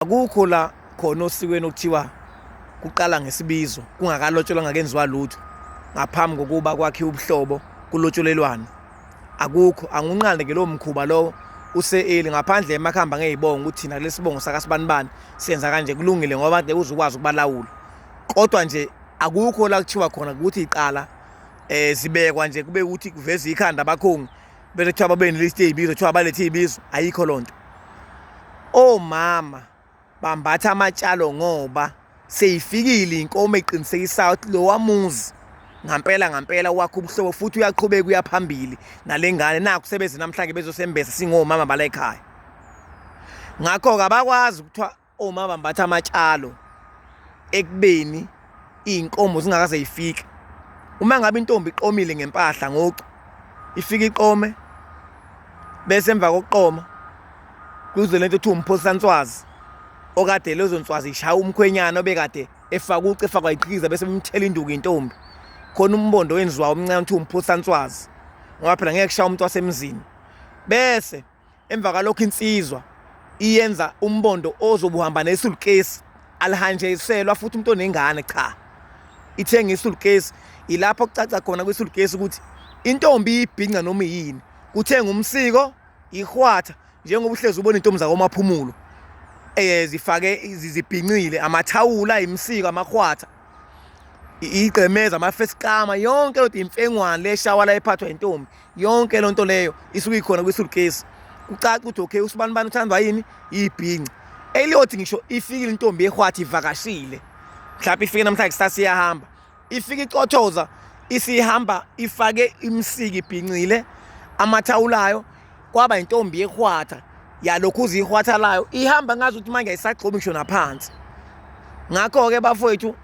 akukho la khona osikweni okuthiwa kuqala ngesibizo kungakalotsholwa ngakenziwa lutho ngaphambi kokuba kwakhiwe ubuhlobo kulotsholelwana akukho angunqande ke lowo mkhuba lowo use-eli ngaphandle emakhamba ngeyibonga ukuthi thina kulesi bongo sakasibanibani senza kanje kulungile ngoba de uzukwazi ukubalawula kodwa nje akukho la kuthiwa khona ukuthi iqala eh zibekwa nje kube ukuthi kuveza ikhanda abakhongi Bese kuthiwa babeneliste iy'bizo kuthiwa balethe iy'bizo ayikho loo nto omama bambatha amatshalo ngoba seyifikile inkomo eqinisekisayo ukuthi lowa muzi ngampela ngampela wakho ubuhlobo futhi uyaqhubeka uyaphambili nale ngane nakho sebeze namhlanje bezosembesa singomama bala ekhaya ngakho-ke abakwazi ukuthiwa Oma bambatha amatshalo ekubeni izinkomo zingakaze yifike. Uma ngabe intombi iqomile ngempahla ngocu ifika iqome bese emva kokuqoma kuze lento kuthiwa umphosanswazi okade lezo nswazi ishaya umkhwenyana obekade efaka uci efakwa iqhikiza bese bemthela induku intombi khona umbondo wenziwa omncane kuthiwa umphosanswazi ngoba phela ngeke kushaya umuntu wasemzini bese Emva kalokho insizwa iyenza umbondo ozobuhamba nesulukesi alihanjiselwa futhi umuntu onengane cha ithenga isulukesi ilapho kucaca khona kwisulukesi ukuthi intombi ibhinca noma yini kuthenga umsiko ihwatha njengoba uhlezi ubona intombi zakomaphumulo eh zifake zibhincile amathawula imsiko amahwatha igqemeza amafesikama yonke lodwa imfengwane leshawala ephathwa intombi yonke loo nto leyo isuke ikhona kwisulukesi kucaca ukuthi okay usibani bani uthandwa yini yibhinci eliyothi ngisho ifikile intombi ehwathi ivakashile mhlawumbe ifike namhlanje kusasa iyahamba ifike icothoza isihamba ifake imsiki ibhincile amathawulayo kwaba intombi yehwatha yalokhu uzihwatha layo ihamba ngazi ukuthi manje ayisagxobi ngisho naphansi ngakho-ke bafowethu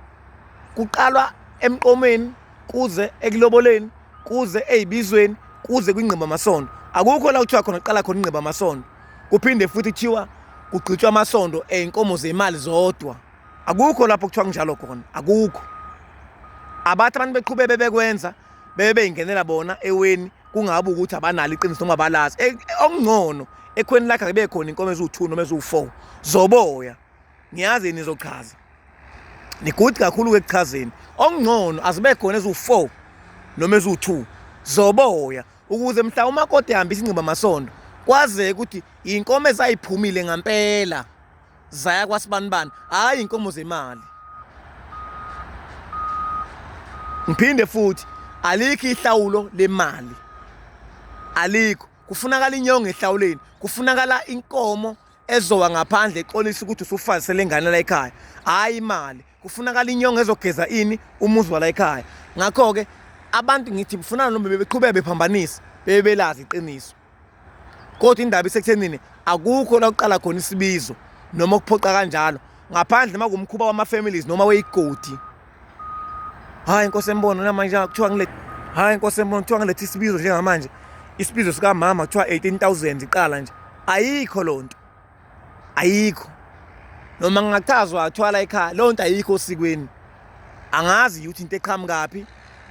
kuqalwa emqomeni kuze ekuloboleni kuze eyibizweni kuze kwingqiba amasondo akukho la kuthiwa khona qala khona ingqiba amasondo kuphinde futhi kuthiwa kugqitshwa amasondo eyinkomo zemali zodwa akukho lapho kuthiwa kunjalo khona akukho abathi abantu beqhube bebekwenza bebe beyingenela bona eweni kungabe ukuthi abanalo iqiniso noma balazi e, okungcono ekhweni lakhe akube khona inkomo eziwu-2 noma eziwu-4 zoboya ngiyazi nizochaza nigudi kakhulu ekuchazeni okungcono azibe khona eziwu-four noma eziwu-two zoboya ukuze mhla umakoti ehambisa ingciba masondo kwazeke ukuthi iy'nkomo ezayiphumile ngampela zaya kwasibanibani hhayi iy'nkomo zemali ngiphinde futhi alikho ihlawulo lemali alikho kufunakala inyongo ehlawuleni kufunakala inkomo ezowa ngaphandle exolisa ukuthi usufazise le ngane la ekhaya hhayi imali kufunakala inyongo ezogeza ini umuzi wala ekhaya ngakho-ke abantu ngithi kufunana noma bebeqhubeka bephambanisa bebe belazi iqiniso kodwa indaba isekuthenini akukho la kuqala khona isibizo noma ukuphoqa kanjalo ngaphandle uma kumkhuba wama-families noma weyigodi Hayi Nkosi embono namanje kuthiwa ngile Hayi Nkosi embono kuthiwa ngilethe isibizo njengamanje. Isibizo sika mama kuthiwa 18000 iqala nje. Ayikho lonto. Ayikho. Noma ngingachazwa athwala ekhaya lonto ayikho osikweni. Angazi ukuthi into eqhamukaphi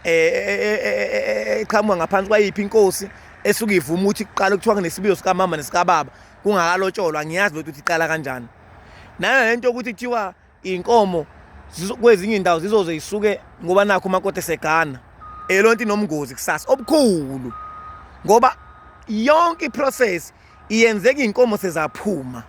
eqhamuka ngaphansi kwayiphi inkosi esuke ivuma ukuthi kuqala kuthiwa kunesibizo sika mama nesika baba kungakalotsholwa ngiyazi lotho ukuthi iqala kanjani. Nana lento ukuthi kuthiwa Inkomo kwezinye indawo zizoze isuke ngoba nakho umakoti esegana elonto inomngozi kusasa obukhulu ngoba yonke iprocess iyenzeka inkomo sezaphuma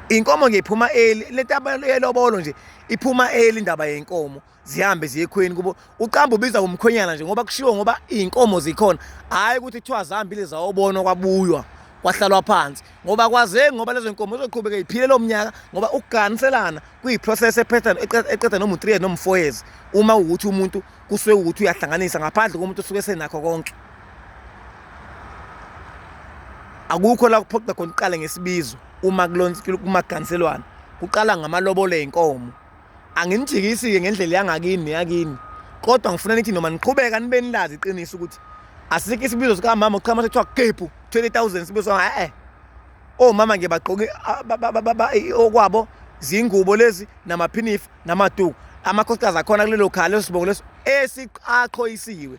inkomo ngiphuma eli lento abalobolo nje iphuma eli indaba yenkomo zihambe ziye ekhweni kubo uqamba ubiza ngomkhwenyana nje ngoba kushiwo ngoba iy'nkomo zikhona hhayi ukuthi kuthiwa zihambile zawobonwa kwabuywa kwahlalwa phansi ngoba kwazeki ngoba lezo nkomo zoqhubeka iphile lo mnyaka ngoba ukuganiselana kuyiprocess ephethana eqeda noma u-three years noma u-four years uma ukuthi umuntu kusuke ukuthi uyahlanganisa ngaphandle komuntu osuke senakho konke akukho la kuphoqa khona uqale ngesibizo uma kumaganiselwana kuqala ngamalobolo ey'nkomo anginijikisi-ke ngendlela yangakini neyakini kodwa ngifuna nithi noma niqhubeka nibe nilazi iqiniso ukuthi asikho isibizo sikamama uqhama sekuthiwa kepu 20000 sibizo e-e omama nje bagqoke okwabo zingubo lezi namaphinifa namatuku amakhosikazi akhona kulelo khaya leso sibongo leso esiqaqhoyisiwe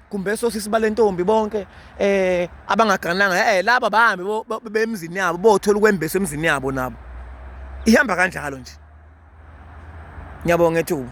kumbe sosisi balentombi bonke eh abangagananga eh laba bahambe bemzini yabo bothola ukwembesa emzini yabo nabo ihamba kanjalo nje ngiyabonga ethuba